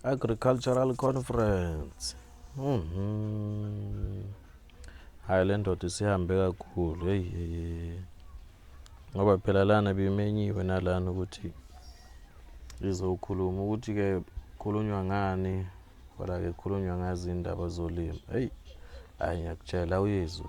Agricultural Conference. Mhm. Hayi le ndoda isihambe kakhulu. Hey hey. Ngoba phela lana bimenyiwe nalana ukuthi izokhuluma ukuthi ke khulunywa ngani kodwa ke khulunywa ngazi indaba zolimo. Hey. Hayi ngiyakutshela uyizwe.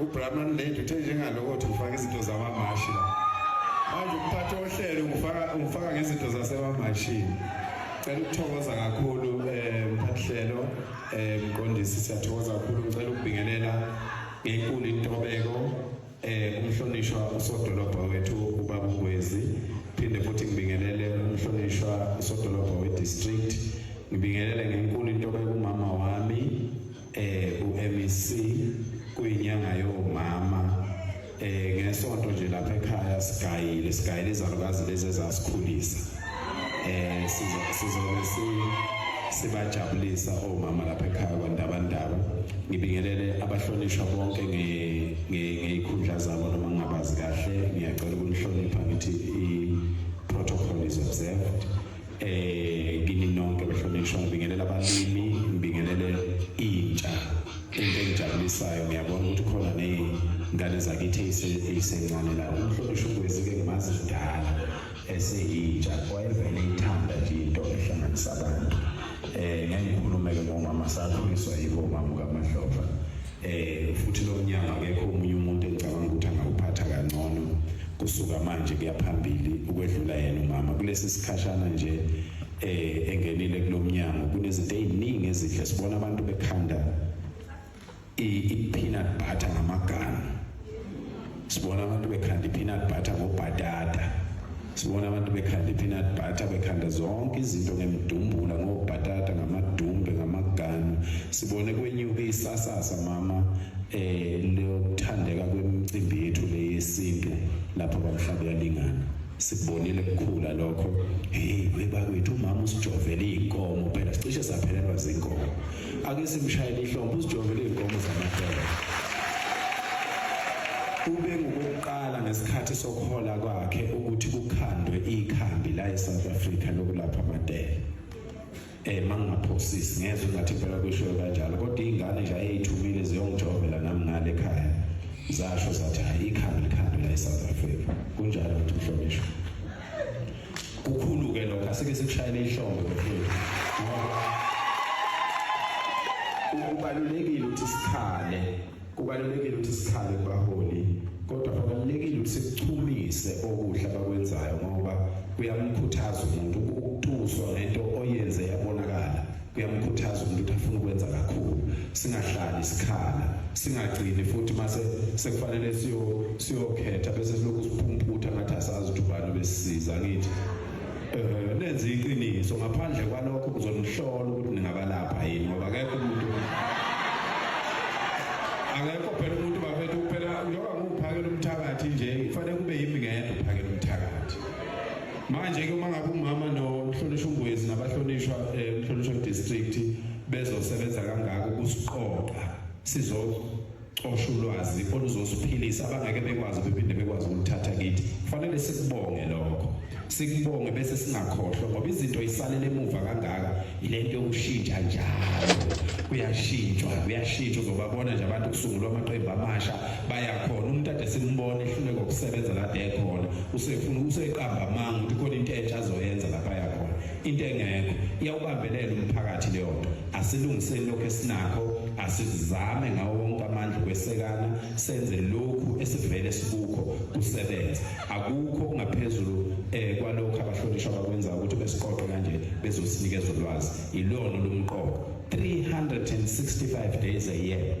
uBrahman Lady uthe njengaloko uthi ufaka izinto zamamashi la manje ukuphatha ohlelo ngifaka ngifaka ngezinto zasemamashini cela ukuthokoza kakhulu um eh, mphathihlelo um eh, mqondisi siyathokoza kakhulu ngicela ukubingelela ngenkulu intobeko eh umhlonishwa usodolobha wethu ubaba Ngwezi phinde futhi ngibingelele umhlonishwa usodolobha we district ngibingelele ngenkulu intobeko umama wami eh uMEC kuyinyanga yomama eh ngesonto nje lapha ekhaya sigayile sigayile izalukazi lezi ezasikhulisa eh sizobe si sibajabulisa omama lapha ekhaya kwandabandaba ngibingelele abahlonishwa bonke ngey'khundla zabo noma ngingabazi kahle ngiyacela ukunihlonipha ngithi i-protocol is observed eh kini nonke bahlonishwa ngibingelela abalimi ngibingelele intsha into engijabulisayo ngiyabona ukuthi khona nezingane zakithi ezisencane la umhlonishwa ugwezi ke ngimazi kudala eseyintsha wayevele ithanda nje into ehlanganisa abantu eh ngikhulume ke ngomama sakhuliswa yibo mama kaMadlova Eh futhi lo mnyango akekho umunye umuntu engicabanga ukuthi angawuphatha kangcono kusuka manje kuyaphambili ukwedlula yena umama kulesi sikhashana nje eh engenile kulomnyango kunezinto eziningi ezihle sibona abantu bekhanda i peanut butter ngamagana sibona abantu bekhanda i-peanut butter ngobhatata sibona abantu bekhanda i-peanut butter bekhanda zonke izinto ngemdumbula ngobhatata ngamadumbe ngamaganu sibone kwenyuke isasasa mama eh lokuthandeka kwemicimbi yethu le yesintu lapho bamhlaba yalingana sikubonile kukhula lokho hey webakwethu umama usijovele izinkomo phela sicishe saphelelwa zinkomo ake simshayele ihlombe usijovele izinkomo zamadoda ube ngokuqala ngesikhathi sokuhola kwakhe ukuthi kukhandwe ikhambi la eSouth Africa lokulapha amadela eh mangingaphosisi ngezwe ngathi impela kusho kanjalo kodwa ingane nje ayeyithumile ziyongijovela nami ngale ekhaya zasho zathi hayi ikhambi likhambi la eSouth Africa kunjalo ukuthi mhlonishwa kukhulu ke lokho asike sikushayele ihlombe mkhulu kubalulekile ukuthi sikhale kubalulekile ukuthi sikhale baholi kodwa kubalulekile ukuthi sikuchumise okuhle abakwenzayo ngoba kuyamkhuthaza umuntu ukutuswa ngento oyenze yabonakala kuyamkhuthaza umuntu ukuthi afune ukwenza kakhulu singahlali sikhala singagcini futhi mase sekufanele siyo siyokhetha bese silokhu siphumputha ngathi asazi ukuthi ubani besisiza ngithi eh nenza iqiniso ngaphandle kwalokho kuzonihlola ukuthi ningabalapha yini ngoba akekho umuntu akekho phela umuntu bafethu kuphela njengoba ngiwuphakela umthakathi nje kufanele kube yimi ngedwa uphakela umthakathi manje ke uma ngabe umama nomhlonishwa uNgwezi nabahlonishwa eh, umhlonishwa district bezosebenza kangaka ukusiqoqa sizocosha ulwazi oluzosiphilisa abangeke bekwazi bephinde bekwazi ukuthatha kithi kufanele sikubonge lokho sikubonge bese singakhohlwa ngoba izinto isalele emuva kangaka yilento yokushintsha njalo kuyashintshwa kuyashintshwa uzobabona nje abantu kusungulwa amaqembu amasha bayakhona umuntu ade simbone ehluleka ukusebenza kade ekhona usefuna useqamba amanga ukuthi khona into entsha azoyenza lapha yakhona into engekho iyawubambelela umphakathi leyo nto asilungiseni lokho esinakho asizame ngawo wonke amandla ukwesekana senze lokhu esivele sikukho kusebenza akukho kungaphezulu eh kwalokho abahlonishwa bakwenza ukuthi besiqoqe kanje bezosinikeza ulwazi ilona lomqoqo 365 days a year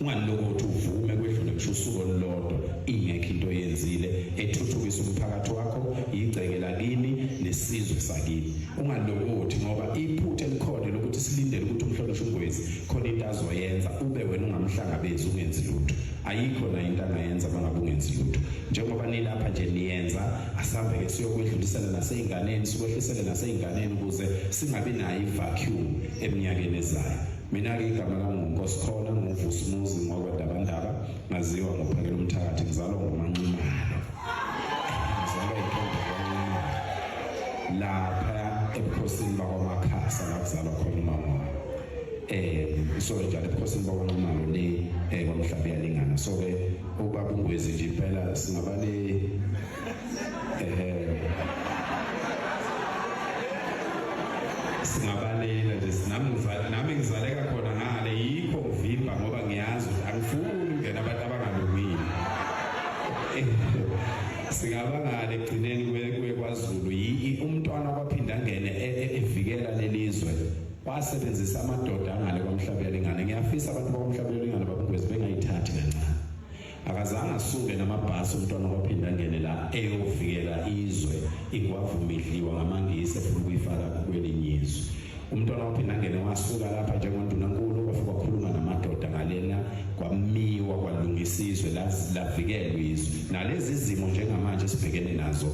ungalokothi uvume kwedlule ngisho usuku olulodwa ingekho into oyenzile ethuthukisa umphakathi wakho yigceke lakini nesizwe sakini ungalokothi ngoba iphutha elikhona lokuthi silindele ukuthi umhlonishwe ungwezi khona into azoyenza ube wena ungamhlangabezi ungenzi lutho ayikho la into angayenza bangabe ungenzi lutho njengoba nilapha nje niyenza asambe ke siyokwedlulisela naseyinganeni sikwehlisele naseyinganeni ukuze singabi nayo ivacuum eminyakeni ezayo mina-ke igama lami ngungosikhona nguvusi muzi ngwakwedabandaba ngaziwa ngophakela umthakathi ngizalwa ngomanqimalo ngizalwa intombi kwanqimalo lapha ebukhosini bakwamakhasa la kuzalwa khona umama wami um so njalo ebukhosini bakwanqumalo le um kwamhlaba iyalingana so ke ubaba ungwezi nje impela singaba le um singabalela nje sinami nami ngizaleka khona ngale yikho ngivimba ngoba ngiyazi ukuthi angifuni ukungena abantu abangalungile singaba ngale ekugcineni kuye kwaZulu umntwana kwaphinde angene e, e, evikela lelizwe basebenzisa amadoda angale kwamhlabela ingane ngiyafisa abantu bakwamhlabela ingane babungwezi bengayithathi kancane akazange asuke namabhasi umntwana waphinda ngene la eyovikela izwe ingwavumidliwa ngamangisi efuna ukuyifaka kwelinye izwe umntwana waphinda ngene wasuka lapha njengondunankulu kwafika wakhuluma namadoda ngalena kwamiwa kwalungisa izwe lavikelwa izwe nalezi zimo njengamanje esibhekene nazo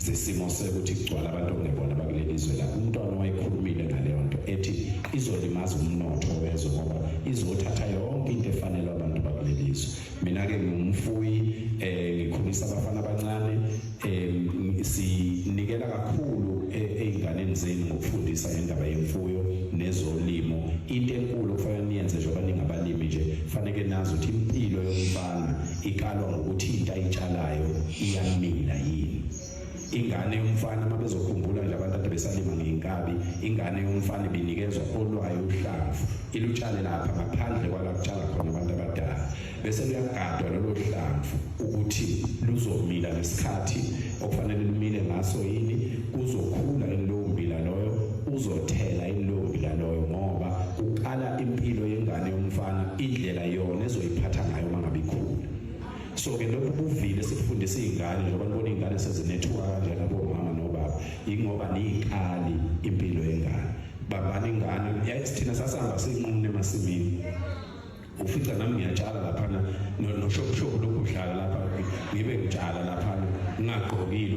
zesimo sekuthi kugcwala abantu okungebona bakuleli zwe la umntwana owayekhulumile ngaleyo nto ethi izolimaza umnotho wezwe ngoba izothatha yonke into efanele abantu bakuleli zwe mina-ke ngingumfuyi um ngikhulisa abafana abancane um sinikela kakhulu e, ey'nganeni zenu ngokufundisa ngendaba yemfuyo nezolimo into enkulu okufanele niyenze njengoba ningabalimi nje faneke nazi ukuthi impilo yomfana ikalwa ngokuthi into ayitshalayo iyamila yini ingane yomfana uma bezokhumbula nje abantu ade besalima ngeyinkabi ingane yomfana ibinikezwa olwayo uhlamvu ilutshale lapha ngaphandle kwala kutshala khona abantu abadala bese luyagadwa lolo hlamvu ukuthi luzomila ngesikhathi okufanele lumile ngaso yini kuzokhula lowo mbila loyo uzothela ilowo mbila loyo ngoba kuqala impilo yengane yomfana indlela yona ezoyiphatha ngayo uma ngabe ikhula so ke lokhu buvile sifundisa izingane njengoba nibona izingane sezinethuka kanjena bomama nobaba ingoba niyiqali impilo yengane babani ingane yayithina sasihamba sinqumne emasimini ufica nami ngiyatshala laphana noshobushobu lokhu udlala lapha ngibe ngitshala laphana ngingagqokile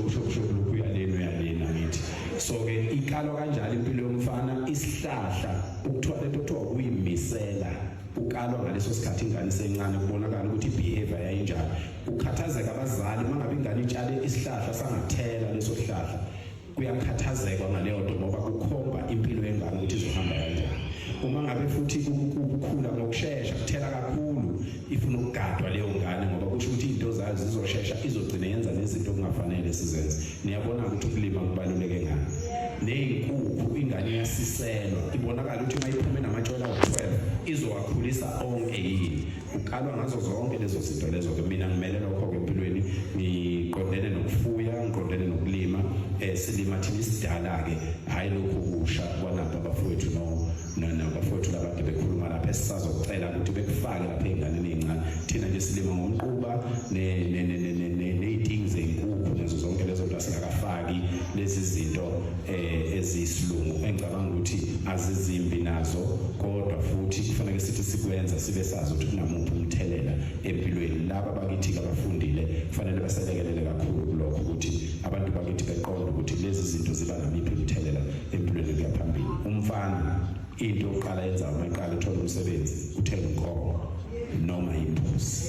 ushobushobu lokhu uyaleni uyaleni angithi so-ke ikalwa kanjalo impilo yomfana isihlahla Ukuthiwa lento kuthiwa ukuyimisela ukalwa ngaleso sikhathi ingane isencane kubonakala ukuthi ibehavior yayinjani ukhathazeka abazali mangabe ingane itshale isihlahla sangathela leso sihlahla kuyakhathazekwa ngaleyo nto ngoba kukhomba impilo yengane ukuthi izohamba kanjani uma ngabe futhi ukukhula ngokushesha kuthela kakhulu ifuna ukugadwa leyo ngane ngoba kusho ukuthi into zayo zizoshesha izogcina yenza nezinto okungafanele sizenze niyabona ukuthi ukulima kubaluleke ngani neyinkukhu ingane iyasiselwa ibonakala ukuthi uma iphume namatshwela awu-12 izowakhulisa onke yini kukalwa ngazo zonke lezo zinto lezo-ke mina ngimele lokho-ke empilweni ngiqondene nokufuya ngiqondene nokulima um silima thina isidala-ke hhayi lokhu kusha kwanabo abafowethu no nabafowethu labade bekhuluma lapha esisazocela ukuthi bekufake lapha ey'nganeni ey'ncane thina nje silima ngomquba ney'tingi zey'nkukhu nazo zonke lezo nto asingakafaki lezi zinto um eh, eziyisilungu engicabanga ukuthi azizimbi nazo kodwa futhi kufanele sithi sikwenza sibe sazi ukuthi kunamuphi umthelela empilweni laba bakithi abafundile kufanele baselekelele kakhulu kulokho ukuthi abantu bakithi beqonde ukuthi lezi zinto ziba namiphi imithelela empilweni kuya phambili umfana into oqala yenza uma eqala uthola umsebenzi uthenga inkomo noma imbuzi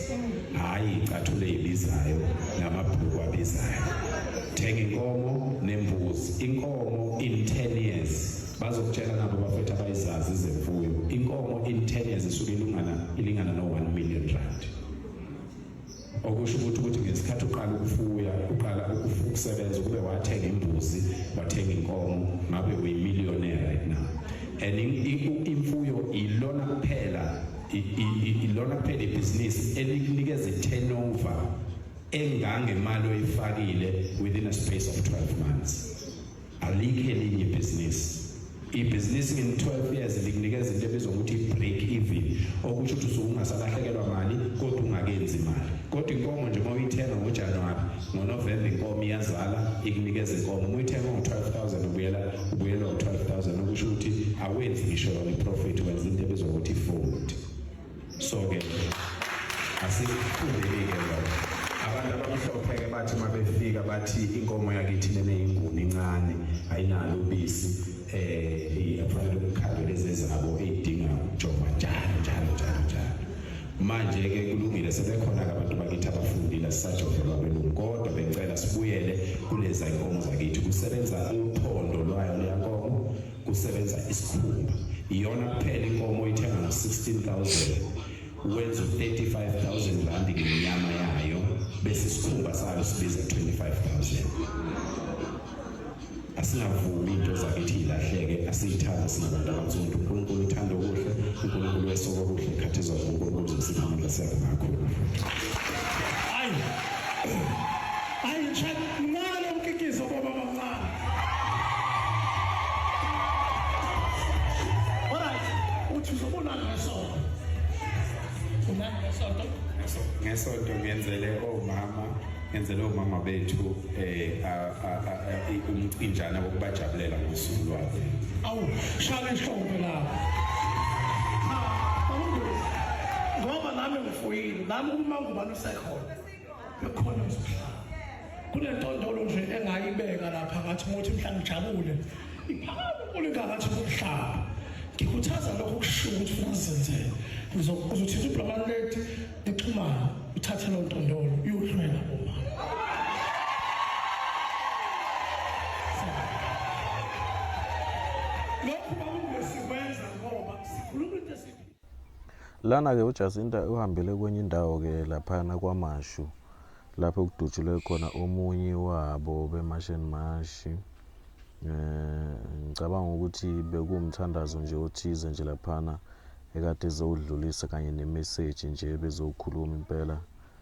hhayi icathule ebizayo namabhuku abizayo thenga inkomo nembuzi inkomo in 10 years bazokutshela nabo bafethu abayizazi izemfuyo inkomo in 10 years isuke ilingana ilingana no 1 million rand okusho ukuthi ukuthi ngesikhathi uqala ukufuya uqala ukusebenza ukube wathenga imbuzi wathenga inkomo ngabe uyimillionaire right now and imfuyo ilona kuphela ilona kuphela ibhizinisi elikunikeza i-turnover engangemali oyifakile within a space of 12 months alikho elinye ibhizinisi ibhizinisi nge-12 years likunikeza into ebizwa ukuthi i-break even okusho ukuthi usuke ungasalahlekelwa mali kodwa ungakenzi mali kodwa inkomo nje uma uyithenga ngojanuwari ngonovemba inkomo iyazala ikunikeza inkomo uma uyithenga ngo-12000 ubuyela ubuyelwa u-12000 okusho ukuthi awenzi ngisho yona iprofit wenza into ebizwa ukuthi i-food sonke asifundile-ke lokho abantu abamhlophe-ke bathi uma befika bathi inkomo yakithi lena yinguni incane ayinalo ubisi um afanele umkhandwe lezi ezabo eyidinga ukujova njalo njalo njalo njalo manje-ke kulungile sebekhona-ke abantu bakithi abafundile sisajovelwa belungu kodwa bengicela sibuyele kuleza inkomo zakithi kusebenza uphondo lwayo leyankomo kusebenza isikhumba iyona kuphela inkomo oyithenga ngo 16000 wenza 35000 rand ngenyama yayo bese isikhumba sayo sibiza 25000 asingavumi into zakithi ilahleke asiyithanda singabantu abansundu uNkulunkulu uthanda okuhle uNkulunkulu wesoko okuhle ikhathi zonke uNkulunkulu uzosipha amandla siyabonga kakhulu ayi ayi chat nalo mkikizo baba ngesonto ngenzele omama ngenzele omama bethu eh umcinjana wokubajabulela ngosuku lwabo awu shaka ihlombe lapho ngoba nami ngifuyile nami uma ngubani usekhona Akhona msihlalo. Kunentondolo nje engayibeka lapha ngathi ngothi mhla ngijabule. Iphakama unkulu ngathi umhlaba. Ngikhuthaza lokho kusho ukuthi ufuna sizenzele. Ngizokuzothinta ublomani lethi nixhumana uthathe lo ntondolo uyohlwela uma. Lokhu bakungesikwenza ngoba sikhuluma into esiphila Lana-ke uJacinta uhambele kwenye indawo-ke laphana kwaMashu lapho kudutshulwe khona omunye wabo beMash and Mash. Eh, ngicabanga ukuthi bekuwumthandazo nje othize nje laphana ekade ezowudlulisa kanye nemeseji nje bezowukhuluma impela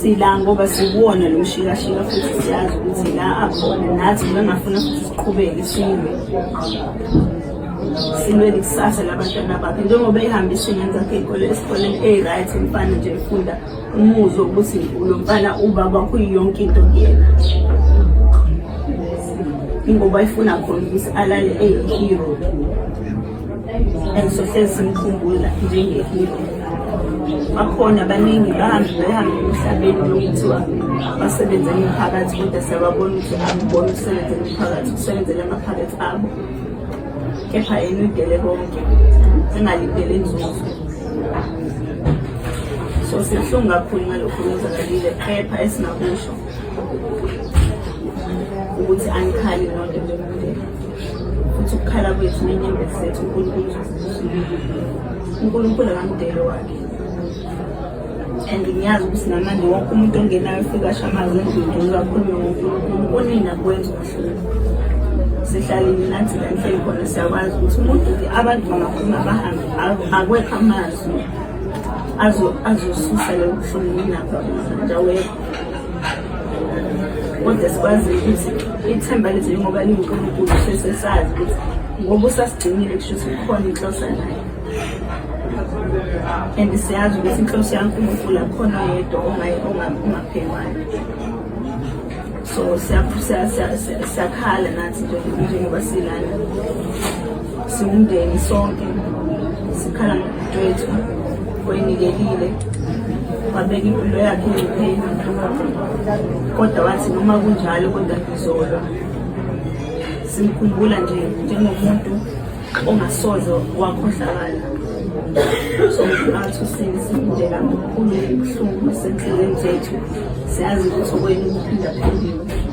sila ngoba sikuwona lo mshikashika futhi siyazi ukuthi la akhona nathi bengafuna futhi siqhubeke silwe silwele ikusasa labantwana bakhe njengoba ehambe isingane zakhe enkolo esikoleni eyi-right mfana nje efunda umuzwe ukuthi lo mfana ubaba kuyiyonke into kuyena ingoba ifuna khona ukuthi alale eyi-hero engisohlezi simkhumbula njengehilo bakhona baningi bahambe behambe emhlabeni lokuthiwa basebenze emiphakathi kodwa siyababona ukuthi akubona ukusebenza emiphakathi ukusebenzela amaphakathi abo kepha yena uyidele konke engalindele inzuzo so sibuhlungu kakhulu ngalokhu kwenzakalile kepha esingakusho ukuthi angikhali nonto njengomuntu futhi ukukhala kwethu nenyembezi zethu unkulunkulu unkulunkulu akamdele wakhe and ngiyazi ukuthi namanje wonke umuntu ongenayo ufika asho amazwi endlini uzakhulume ngonkulunkulu kunina kwenza ubuhlungu sihlalile nathi la nhleli khona siyakwazi ukuthi umuntu abantu bangakhuluma bahambe akwekho amazwi azosusa lobuhlungu nginapha nje awekho kodwa sikwazi ukuthi ithemba lethu njengoba lingunkulunkulu sesesazi ukuthi ngoba usasigcinile kusho ukuthi kukhona inhlosa naye and siyazi ukuthi inhloso yankulunkulu akhona yedwa ongaphekwani so siyakhala nathi njengoba silana Siwumndeni sonke sikhala ngobudwethu oyinikelile wabeka impilo yakhe engcupheni kodwa wathi noma kunjalo kodwa ngizolwa simkhumbula nje njengomuntu ongasoze wakhohlakala somphakathi usinsindela mkhulu ubuhlungu esenhlelweni zethu siyazi ukuthi okwenu kuphindaphindiwe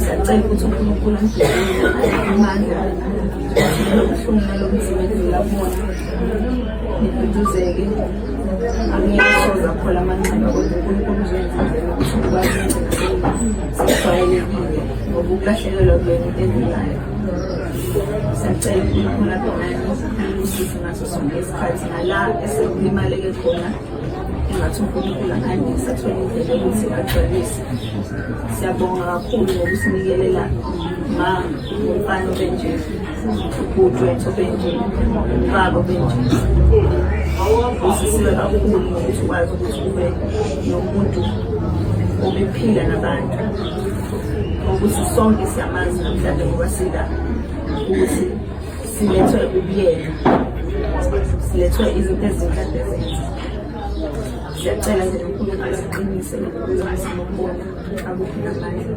siyacela ukuthi unkulunkulu amandla lobuhlungu nalobunzima edlula kubona niduduzeke angeke soza phola amanxeba kodwa unkulunkulu uzoyenzile ukuthi ukwazi sijwayelekile ngoba ukulahlekelwa kwenu into edlulayo siyacela unkulunkulu abonani usisi ngaso sonke isikhathi nala esekulimaleke khona ngathi uNkulunkulu akhandise athole indlela ukuthi agcwalise siyabonga kakhulu ngokusinikelela ma umfana obenje ubhuti wethu obenje ubaba obenje usisiwe kakhulu ngokuthi ukwazi ukuthi ube nomuntu obephila nabantu ukuthi sonke siyamazi namhlanje ngoba sila ukuthi silethwe ubuyeka silethwe izinto ezinhle ezenza siyacela nje unkulunkulu asiqinise nokuzimakubona akuphi namandla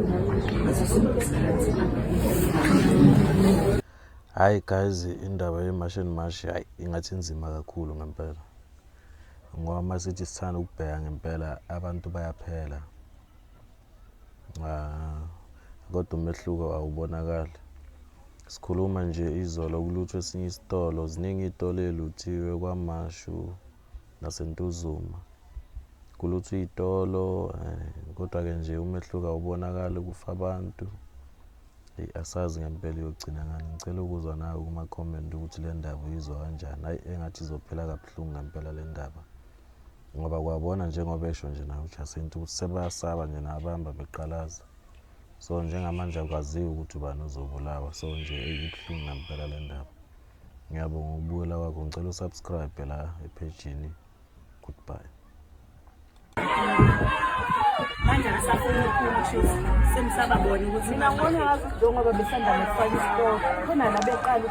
ngaso sonke isikhathi hayi guys indaba yemashi and mashi hayi ingathi inzima kakhulu ngempela ngoba uma sithi sithanda ukubheka ngempela abantu bayaphela Ah, kodwa umehluko awubonakali. Sikhuluma nje izolo kulutho esinye isitolo, ziningi iy'tolo ey'luthiwe kwaMashu naseNtuzuma. Kulutho iy'tolo eh, kodwa-ke nje umehluko awubonakali kufa abantu. Eyi, asazi ngempela iyogcina ngani. Ngicela ukuzwa nawe kuma-comment ukuthi le ndaba uyizwa kanjani. Hhayi, engathi izophela kabuhlungu ngempela le ndaba. ngoba kwabona njengoba esho nje naye uJacinta ukuthi sebasaba nje nabamba beqalaza so njengamanje akwaziwa ukuthi ubani ozobulawa so nje ibuhlungu nampela le ndaba ngiyabonga ukubukela kwakho ngicela usubscribe la ephejini goodbye manje ngisafuna ukukhuluma sengisa babona ukuthi mina ngibona ngathi njengoba besanda nokufaka isitoko khona la beqala